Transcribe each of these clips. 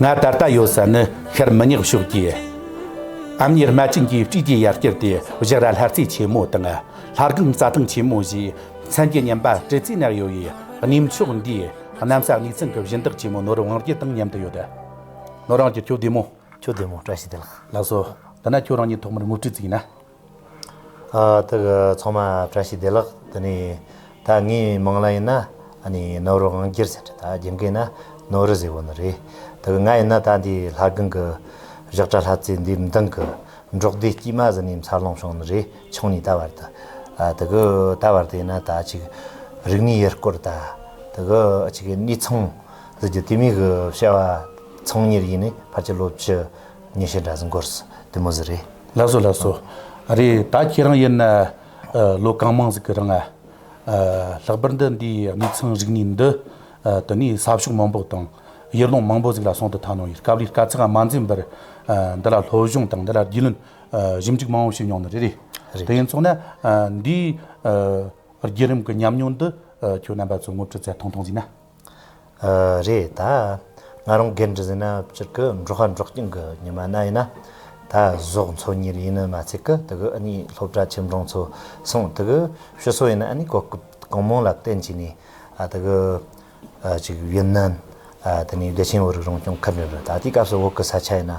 ང་ད་ལྟ་ཡོད་ས་ནི་ཤར་མི་ཉག་ཕྱོགས་ཀྱི་ཨམ་ཉེར་རྨ་ཆེན་གྱི་དཀྲིས་ཀྱི་ཡར་སྐྱེར་ཏེ་བཞག་ར་ལྷ་རྩེ་ཆེན་མོ་དང་ལྷ་སྒང་རྩྭ་ཐང་ཆེན་མོ་བཞིའི་མཚན་གྱི་མཉམ་པ་སྤྲེལ་རྩིས་ནག་ཡོད་པའི་གནས་མཆོག་འདི་གནམ་ས་གནས་ཚང་གི་གཞི་བདག་ཆེན་མོ་ནོར་བང་རྒྱལ་དང་མཉམ་དུ་ཡོད། ནོར་བང་རྒྱལ་ཁྱོད་བདེ་མོ། ཁྱོད་བདེ་མོ་བཀྲ་ཤིས་བདེ་ལགས། ལགས་སོ། འདི་ན་ཁྱོད་རང་ཉིད་ཐོག་མར་དངུལ་ཁྲི་བརྩིགས་ན། ཐུགས་ཚང་མ་བཀྲ་ཤིས་བདེ་ལགས་དེ་ནས་ད་ངའི་མིང་ལ་ཡིན་ན་ནོར་བུ་དབང་རྒྱལ་ཟེར་ད་རྒྱུན་གྱི་ན་ནོར་བུ་ཟེར་བ་ནི་རེད་ཐུགས་ང་ཡིན་ན་ད་འདི་ལྷ་སྒང་གི་བཞག་གྲྭ་ལྷ་རྩེ་འདིའི་མདང་གི་འབྲོག་སྡེ་དཀྱུས་མ་ཟི་ནས་འཚར་ལོངས་བྱུང་ནི་རེད་ཆུང་ནས་ད་བར་དུ་གུ་ད་བར་དུ་ཡིན་ན་ད་ཅིག་རིག་གནས་ཡུལ་སྐོར་ད་གུ་ཅིག་གནས་ཚང་ཟི་རྒྱུ་དུས་མིག་གི་བྱ་བ་ཚང་གཉེར་ཡིན་ནི་ཕར་ཆུ་ལོག་ཆུ་ཉེས་བྱས་འདྲ་ཟིན་གོར་སི་དེ་མོ་ཟི་རེད། ལགས་སོ་ལགས་སོ། ཨ་རེ་ད་ཁྱེད་རང་ཡིན་ན་ལོ་གང་མང་ཟིག་གི་རིང་ཨ། ལྷག་པར་འདི་འདི་གནས་ཚང་རིག་གནས་འདི་དུ་ནས་ས་ཕྱོགས་མང་པོ་དང། ཡུལ་ལུང་མང་པོ་ཟིག་ལ་སོང་དུ་ཐ་ནོ་ཡིན་སྐབས་རེ་དཀའ་ཚེགས་མ་འཛིན་པར་འདི་ལ་སློབ་སྦྱོང་དང་འདི་ལ་རྒྱུས་ལོན་ཞིབ་འཇུག་མང་པོ་བྱེད་མྱོང་ནི་རེད། དེ་ཡིན་ཚོགས་ན་འདིའི་རྒྱུད་རིམ་གི་ཉམས་མྱོང་འདི་ཁྱོད་རྣམ་པ་ཚོས་ངོ་སྤྲོད་ཚད་ཐུང་ཐུང་ཟིག་ན། རེད་ད། ང་རང་རྒན་གྲི་ཟིན་ན་སྤྱིར་ཀི་འབྲོག་ཤ་འབྲོག་སྐྱིན་གི་ཉི་མ་ན་ཡིན་ན། ད་ཟོག་འཚོ་ཉིར་ཡིན་ནི་མ་ཚད་ཀི་དི་གི་ཨི་ནི་སློབ་གྲྭ་ཁྱིམ་གྲོང་ཚོ་སོང་དི་གི་ཤི་སོ་ཡིན་ཨི་ནི་གོ་སྐབས་གང་མང་ལ་བརྟེན་བྱས་ནས་ཨ་དི་གི་ཅིག་ཡིན་ནི། དེ་ནས་བདེ་ཆེན་བོད་རིགས་རང་སྐྱོང་ཁུལ་འགྲིམ་རི་ད་ལྟའི་སྐབས་སུ་བོད་ཀི་ས་ཆ་ཡིན་ན།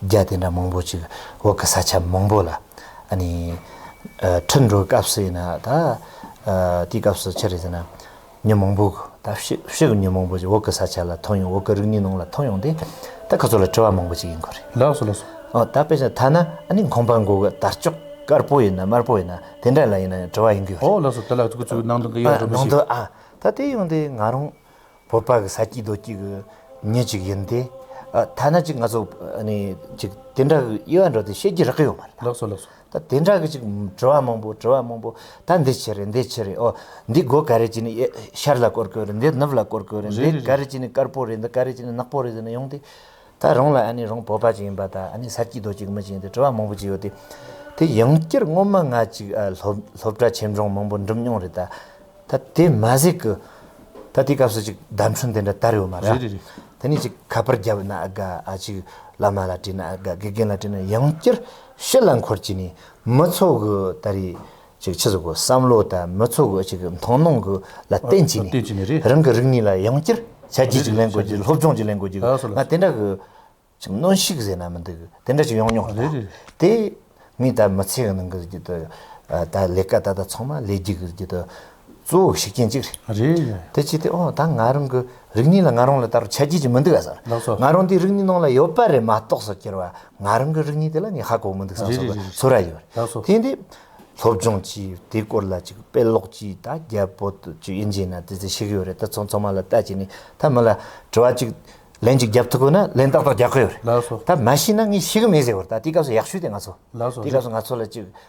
རྒྱ་དེ་འདྲ་མང་པོ་ཅིག་འོག་གི་ས་ཆ་མང་པོ་ལ་འཁྲིད་འགྲོ་སྐབས་སུ་ཡིན་ན་ད་དེའི་སྐབས་སུ་ཕྱིར་ཟེར་ན་ཉིན་མང་པོ་ད་ཕྱི་གི་ཉིན་མང་པོ་ཅིག་འོག་གི་ས་ཆ་ལ་ཐོན་ཡོང་འོག་གི་རིག་གནས་ནང་ལ་ཐོན་ཡོང་དེ་ད་ཁ་ཚོ་ལ་དྲི་བ་མང་པོ་ཅིག་ཡིན་གོ་རེད། ལགས་སོ་ལགས་སོ། ད་དཔེ་ཆ་ཐ་ན་ཁང་པ་འགོག་གི་དར་ལྕོག་དཀར་པོ་ཡིན་ན་དམར་པོ་ཡིན་ན་དེ་འདྲ་ལ་ཡིན་ན་དྲི་བ་ཡིན་གི་ཡོད་རེད། འོ་ལགས་སོ་དེ་ལ་ཁྱོད་ཚོས་ནང་དོན་ག་ཡོད་ཡོད་རེད་མ་གཞི། ནང་དོན་ཨ་ད་དེ་ཡོང་དེ་ང་རང། བོད་པ་གི་ས་སྐྱིད་རྡོ་སྐྱིད་གི་མྱི་ཅིག་ཡིན་ཏེ། ཐ་ན་ཅིག་ང་ཚོ་ཅིག་དེ་འདྲ་གི་དབྱེ་བ་འགྲོ་དེ་ཤེས་ཀྱི་རག་གི་ཡོད་མ་རེད། ལགས་སོ་ལགས་སོ། ད་དེ་འདྲ་གི་ཅིག་དྲི་བ་མང་པོ་དྲི་བ་མང་པོ་ད་འདི་ཕྱི་རེད་འདི་ཕྱི་རེད་ཨོ། འདི་སྒོ་ག་རེ་ཅིག་ནི་ཤར་ལ་བསྐོར་དགོས་རེད་འདི་ནུབ་ལ་བསྐོར་དགོས་རེད་འདི་ག་རེ་ཅིག་ནི་དཀར་པོ་རེད་འདི་ག་རེ་ཅིག་ནི་ནག་པོ་རེད་ཟེར་ནས་ཡོང་སྟེ། ད་རུང་ལ་ཨ་ནི་རོང་བོ་པ་ཅིག་ཡིན་པ་དང་ཨ་ནི་ས་སྐྱིད་རྡོ་སྐྱིད་ཀྱི་མི་ཅིག་ཡིན་ཏེ་བྲོ་བ་མང་པོ་ཅིག་ཡོད་དེ། དེ་ཡང་སྐྱིར་སྔོན་མ་ང་ཅིག་སློབ་གྲྭ་ཆེ་འབྲོང་མང་པོ་འགྲིམས་མྱོང་རེད་ད། ད་དེ་མ་ཟིག་གི། ད་དེའི་སྐབས་སུ་ཅིག་ཟླ་འཕྲུལ་འདི་འདྲ་དར་ཡོད་མ་རེད། རེད་རེད་རེད། དེ་ནས་ཅིག་ཁ་པར་རྒྱབ་ན་དགའ་ཨ་ཅིག་བླ་མ་ལ་བྲིས་ན་དགའ་དགེ་རྒན་ལ་བྲིས་ན་ཡང་སྐྱིར་ཤི་ལ་འཁོར་བྱས་ནས་མི་ཚོགས་གི་ད་རེས་ཅིག་ཕྱི་ཚུལ་གྱི་བསམ་བློ་དང་མི་ཚོགས་ཀྱི་ཅིག་མཐོང་སྣང་གི་ལ་བརྟེན་བྱས་ནས་རང་གི་རིག་གནས་ལ་ཡང་བསྐྱར་ཞལ་གྱེས་ཅིག་ལེན་དགོས་ཅིག་སློབ་སྦྱོང་ཅིག་ལེན་དགོས་ཅིག་ང་དེ་འདྲ་གི་ཅིག་གནོན་ཤུགས་ཟེར་ན་མི་འདུག་དེ་འདྲ་ཅིག་ཡོང་མྱོང་ཡོད་ན་དེ་ངས་ད་མི་ཚེའི་ནང་གི་ཅིག་ད་ལས་ཀ་ད་ལྟ་ཚང་མ་ལས་རྒྱུ་གི་ཅིག་ད་གཙོ་བོ་ཤུགས་རྐྱེན་ཅིག་རེད་དེ་ཅིག་དེ་འོ་ད་ང་རང་གི་རིག་གནས་ལ་ང་རང་ལ་ད་རུང་ཆ་རྒྱུས་ཅིག་མི་འདུག་ག་ཟེར་ང་རང་དེ་རིག་གནས་ནང་ལ་ཡོད་པ་རེད་མ་གཏོགས་སོ་ཁྱེར་བ་ང་རང་གི་རིག་གནས་དེ་ལ་ནི་ཧ་གོ་མི་འདུག་ས་སོགས་པའི་ཚོར་ར་ཡོད། དེ་འདི་སློབ་སྦྱོང་གྱིས་དེའི་སྐོར་ལ་ཅིག་དཔེ་ཀློག་གྱིས་ད་རྒྱ་བོད་ཅིག་ཡིན་རྗེས་ན་དེ་ཚོ་ཤེས་གི་ཡོད་རེད་ད་ཚོ་ཚང་མ་ལ་ལྟ་བྱས་ནས་ད་མི་ལ་དྲི་བ་ཅིག་ལན་ཅིག་རྒྱབ་ཐུབ་དགོས་ན་ལན་ཏག་ཏག་རྒྱག་གི་ཡོད་རེད་ད་མ་ཤེས་ན་ངས་ཤེས་གི་མེད་ཟེར་བར་ད་དེའི་སྐབས་སུ་ཡག་ཤོས་དེ་ང་ཚོ་དེའི་སྐབས་སུ་ང་ཚོ་ལ་ཅིག་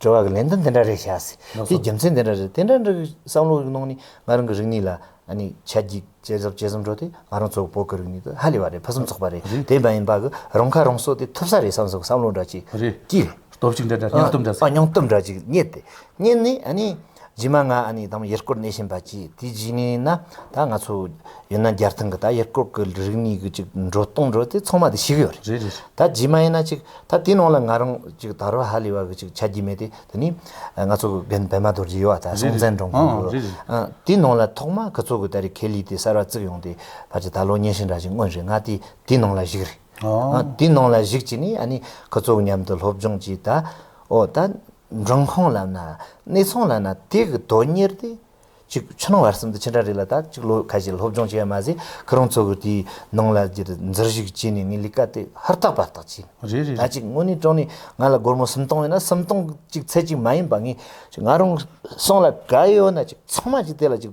དྲི་བ་གི་ལན་དུ་འདི་འདྲ་རེ་བྱ། དེའི་རྒྱུ་མཚན་འདི་འདྲ་རེད། དེ་འདྲ་འདྲ་གི་བསམ་བློ་གནང་ནས་ང་རང་གི་རིག་གནས་ལ་ཆ་རྒྱུས་བཅད་གཟབ་བཅད་གཟབ་འགྲོ་དུས་ང་རང་ཚོ་བོད་ཀྱི་རིག་གནས་དེ་ཧ་ལས་པ་རེད་ཕུན་སུམ་ཚོགས་པ་རེད་དེ་མ་ཡིན་པ་གི་རང་ཁ་རང་གསོ་དེ་ཐུབ་ས་རེད་བསམ་བསམ་བསམ་བློ་འདྲ་གཅིག་སྐྱེས། སྟོབས་ཤུགས་འདྲ་འདྲ་སྙིང་སྟོབས་འདྲ་ཟེར། སྙིང་སྟོབས་འདྲ་གཅིག་རྙེད་དེ། རྙེད་ནས་རྗེས་མ་ང་ཨ་ནེ་དང་ཡུལ་སྐོར་གནས་བཞིན་པ་གྱིས་དེའི་རྗེས་ངས་ན་ད་ང་ཚོ་ཡིན་ན་རྒྱར་ཐོན་གི་ད་ཡུལ་སྐོར་གི་རིག་གནས་གི་ཅིག་འགྲོ་གཏོང་འགྲོ་དེ་ཚང་མ་དེ་ཞིག་ཡོད་རེད་ད་རྗེས་མ་ཡིན་ན་ཅིག་ད་དེའི་ནང་ལ་ང་རང་ཅིག་ད་རོ་ཧ་ལས་བ་གི་ཅིག་ཆ་རྒྱུས་མེད་དེ་དེ་ནི་ང་ཚོ་གི་རྒན་བལ་མ་རྡོ་རྗེ་ཡོད་བ་ད་སྲོང་བཙན་སྒྲོན་གོང་གི་དེའི་ནང་ལ་ཐོག་མ་གི་ཚོ་གི་ད་རེ་ཁེ་ལི་དེ་གསར་བ་བརྩིགས་ཡོང་དེ་བར་ཅིག་ད་ལོ་ཉིན་ཞིག་འདྲ་ཅིག་སྔོན་རེད་ང་དེ་དེའི་ནང་ལ་ཞིག་རེད་དེའི་ནང་ལ་ཞིག་ཅིག་ནས་ཨ་ནེ་གི་ཚོ་གི་མཉམ་དུ་སློབ་སྦྱོང་ཅིག་ད་འོ་ད། འབྲིང་ཁོང་ལབ་ན་གནས་ཚང་ལབ་ན་དེ་གི་དོན་གཉེར་ཏེ། གཅིག་ཕྱི་ནང་བར་གསུམ་དུ་ཕྱི་འབྲེལ་རིགས་ལ་ད་གཅིག་ལོ་ཁ་ཤས་སློབ་སྦྱོང་བྱས་པ་མ་ཟད་ཁོ་རང་ཚོ་གི་དེའི་ནང་ལ་འདིར་འཛུལ་བཞུགས་བྱས་ནས་ངའི་ལས་ཀ་དེ་ཧུར་ཐག་པར་ཐག་བྱས་ནས་རེད་རེད་ད་རེད། གཅིག་དངོས་གནས་དྲང་ནས་ང་ལ་སྒོར་མོ་སུམ་སྟོང་ཡོད་ན་སུམ་སྟོང་གཅིག་ཚད་ཅིག་མ་ཡིན་པ་ངས་ང་རང་སོང་ལ་ག་ཡོད་ན་གཅིག་ཚང་མ་གཅིག་དེ་ལ་གཅིག་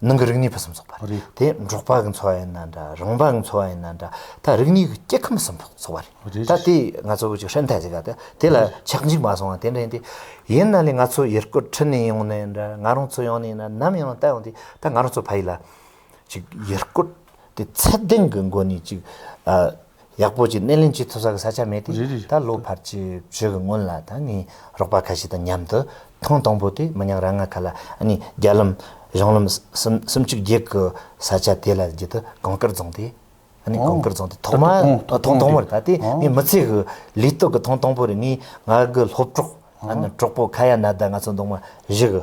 ནང་གི་རིག་གནས་ཕུན་སུམ་ཚོགས་པ། དེ་འབྲོག་པ་གི་འཚོ་བ་ཡིན་ན་འདྲ་རང་པ་གི་འཚོ་བ་ཡིན་ན་འདྲ་ད་རིག་གནས་ཀྱི་སྐྱེ་ཁམས་ཕུན་སུམ་ཚོགས་པ་རེད། ད་དེ་ང་ཚོ་བོད་ཀྱི་ཧྲན་ཐའི་ཟེར་ག་དེ་དེ་ལ་ཆགས་འཇིག་མ་སོང་བ་དེ་འདྲ་ཡིན་ཏེ། ཡིན་ན་ནི་ང་ཚོ་ཡུལ་སྐོར་ཁྲིད་ནས་ཡོང་ནའི་འདྲ་ང་རང་ཚོ་ཡོང་ནའི་འདྲ་ནམ་ཡང་ལྟ་ཡོང་དུས་ད་ང་རང་ཚོ་ཕ་ཡུལ་ལ། ཅིག་ཡུལ་སྐོར་དེ་ཚད་ལྡན་གྱི་སྒོ་ནས་ཅིག། ཡག་པོ་ཅིག་སྣེ་ལེན་བྱེད་ཐུབ་ས་གི་ས་ཆ་མེད་དེ་ད་ལོ་བར་གྱི་བྱོས་གི་སྔོན་ལ་ད་ངའི་རོགས་པ་ཁ་ཤས་དང་མཉམ་དུ་ཐེངས་དང་པོ་དེ་མི་ཉག་ར་ང་ཁ་ལ་ནས་རྒྱ་ལམ་གཞུང་ལམ་གསུམ་གསུམ་བཅུ་བརྒྱད་གི་ས་ཆ་དེ་ལ་བརྒྱུད་དུ་གངས་སྐར་རྫོང་དེ་ནས་གངས་སྐར་རྫོང་དེ་ཐོག་མ་ཐེངས་དང་པོར་ད་དེ་ངའི་མི་ཚེ་གི་ལུས་སྟོད་གི་ཐེངས་དང་པོ་རེད་ངས་ང་གི་སློབ་གྲོགས་གྲོགས་པོ་ཁ་ཡ་ན་ད་ང་ཚོ་འདུག་མ་གཞི་གི་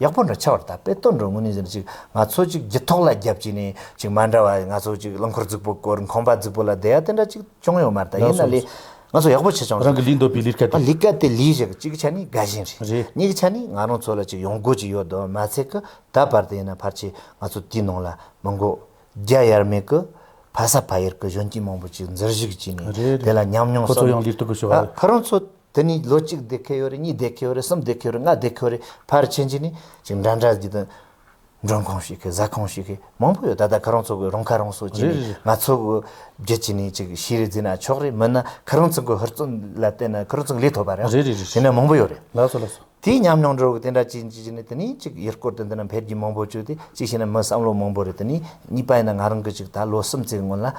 ཡག་པོ་འདྲ་ཆ་བར་ད་དཔེ་སྟོན་འགྲོ་དངོས་གནས་ཟེར་ནས་ཅིག་ང་ཚོ་ཅིག་བརྒྱུད་ཐོག་ལ་རྒྱབ་ཅིག་ནས་ཅིག་མ་འདྲ་བ་ང་ཚོ་ཅིག་རླངས་འཁོར་རྫིག་པོ་སྐོར་ཁང་པ་རྫིག་པོ་ལ་བསྡད་ཡ་དེ་འདྲ་ཅིག་ཅུང་ཡོད་མ་རེད་ད་ཡིན་ན་ལས་ང་ཚོ་ཡག་པོ་བྱས་ཆོག་རང་གི་ལུས་འདོད་པའི་ལུས་ཀ་དེ། ལུས་ཀ་དེ་ལུས་ཞིག་གཅིག་གི་ཆ་ནས་དགའ་ཞེན་རེད་རེད། གཉིས་ཀྱི་ཆ་ནས་ང་རང་ཚོ་ལ་ཅིག་ཡོང་སྒོ་ཅིག་ཡོད་དོ་མ་ཚད་ཀི་ད་བར་དུ་ཡིན་ན་ཕར་ཆེར་ང་ཚོ་དེའི་ནང་ལ་མི་འགོ་རྒྱ་ཡར་མེད་ཀྱི་ཕ་ས་ཕ་ཡུལ་གྱི་གཞོན་སྐྱེས་མང་པོ་ཅིག་འཛུལ་བཞུགས་བྱས་ནས་དེ་ལ་ཉམས་མྱོང་གསོག་ནས་ཁོ་རང་ཚོ་དེ་ནས་ལོ་གཅིག་བསྡད་ཁེལ་ཡོད་རེད་གཉིས་བསྡད་ཁེལ་ཡོད་རེད་གསུམ་བསྡད་ཁེལ་ཡོད་རེད་ལྔ་བསྡད་ཁེལ་ཡོད་རེད་ཕར་ཕྱིན་རྗེས་ནས་ཅིག་འདྲ་འདྲ་བརྒྱུད་དུ་མགྲོན་ཁང་ཞིག་གིས་གཟའ་ཁང་ཞིག་གིས་མང་པོ་ཡོད་ད་ལྟ་ཁོ་རང་ཚོ་གི་རང་ཁ་རང་གསོ་བྱས་ནས་ང་ཚོ་གི་རྒྱུད་བྱས་ནས་ཅིག་ཤེས་རིག་འཛིན་ན་ཆོག་རེད་མིན་ན་ཁོ་རང་ཚོ་གི་ཧུར་བརྩོན་ལ་བརྟེན་ན་ཁོ་རང་ཚོ་ལས་ཐོབ་པ་རེད་དེ་ནས་མང་པོ་ཡོད་རེད། ལགས་སོ་ལགས་སོ། དེའི་ཉམས་མྱོང་འགྲོ་དགོས་དེ་འདྲ་བྱས་ནས་དེ་ནི་གཅིག་ཡུལ་སྐོར་དུ་འདི་ན་འཕེལ་རྒྱས་མང་པོ་བྱུང་སྟེ་གཅིག་བྱས་ན་མི་བསམ་བློ་མང་པོ་རེད་དེ་ནི་གཉིས་པ་ཡིན་ན་ང་རང་གི་ཅིག་ད་ལོ་གསུམ་བརྩེགས་སྔོན་ལ།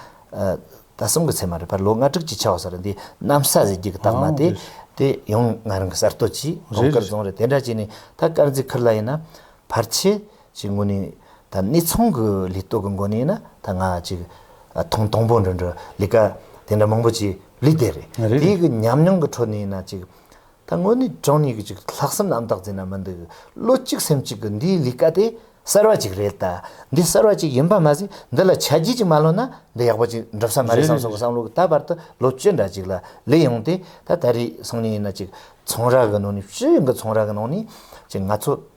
ད་གསུམ་གི་ཚེ་མ་རེད་པར་ལོ་ལྔ་དྲུག་ཅིག་ཆགས་བ་ས་རེད་འདི་གནམ་ས་གཟི་བརྗིད་ཀྱི་རྟགས་མ་སྟེ། དེ་ཡང་ང་རང་གི་གསར་གཏོད་ཀྱིས་གྲོང་དཀར་རྫོང་རེད་དེ་འདྲ་བྱས་ནས་ད་དཀར་མཛེས་ཁུལ་ལ་ཡིན་ན། ཕར་ཆེར་ཅིག་ངོས་ནས་ད་གནས་ཚང་གི་ལས་གཏོད་ཀྱི་སྒོ་ནས་ཡིན་ན་ད་ང་ཅིག་ཐེངས་དང་པོ་འགྲོ་འགྲོ་ལས་ཀ་དེ་འདྲ་མང་པོ་བྱས་ལུས་བསྡད་རེད་དེའི་གི་ཉམས་མྱོང་གི་ཁྲོད་ནས་ཡིན་ན་ཅིག། ད་དངོས་གནས་ཀྲང་ཉི་ཀི་ཅིག་ལྷག་སེམས་ཨམ་ཏག་ཙིན་ན་མི་འདུག་བློ་གཅིག་སེམས་གཅིག་གི་འདིའི་ལས་ཀ་དེ་གསར་བ་ཅིག་རེད་ད། འདི་གསར་བ་ཅིག་ཡིན་པ་མ་ཟད་འདི་ལ་ཆ་རྒྱུས་ཅིག་མ་ལོན་ན་འདི་ཡག་པོ་ཅིག་འགྲུབ་ས་མ་རེད་བསམ་སོང་གི་བསམ་བློ་གི་ད་བར་དུ་ལོ་བཅུ་འདྲ་ཅིག་ལ་ལས་ཡོང་སྟེ་ད་ད་རེས་སང་ཉིན་ཡིན་ན་ཅིག་ཚོང་ར་གི་ནང་ནས་ཕྱི་གི་ཚོང་ར་གི་ནང་ནས་ཅིག་ང་ཚོ།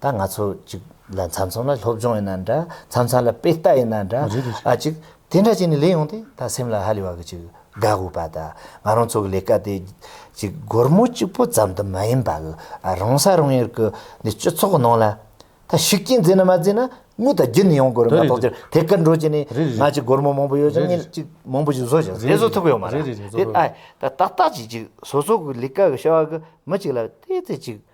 ད་ང་ཚོ་ཅིག་ལ་མཚམས་མཚམས་ལ་སློབ་སྦྱོང་ཡིན་ན་འདྲ་མཚམས་མཚམས་ལ་དཔེ་ལྟ་ཡིན་ན་འདྲ་ཨ་ཅིག་དེ་འདྲ་བྱས་ནས་ལས་ཡོང་སྟེ་ད་སེམས་ལ་ཧ་ལས་བ་གི་ཅིག་དགའ་དགོས་པ་ད་ང་རང་ཚོ་གི་ལས་ཀ་དེ་ཅིག་སྒོར་མོ་གཅིག་པོ་ཙམ་དུ་མ་ཡིན་པ་གི་ཨ་རང་ས་རང་ཡུལ་གི་འདི་སྤྱི་ཚོགས་གི་ནང་ལ་ད་ཤུགས་རྐྱེན་རྫས་ན་མ་རྫས་ན་དངུལ་དང་རྒྱུ་ནི་ཡོང་དགོས་རེད་མ་གཏོགས་ཅི་དེ་ཀར་འགྲོ་བྱས་ནས་ང་ཅིག་སྒོར་མོ་མང་པོ་ཡོད་ཅིག་ཉིན་ཅིག་མང་པོ་ཅིག་བཟོ་བྱས་དེ་བཟོ་ཐུབ་ཡོད་མ་རེད་དེ་ཨ་ད་ཏག་ཏག་ཅིག་ཅིག་བཟོ་ཚོགས་གི་ལས་ཀ་གི་བྱ་བ་གི་མི་ཅིག་ལ་དེ་ཚོད་ཅིག།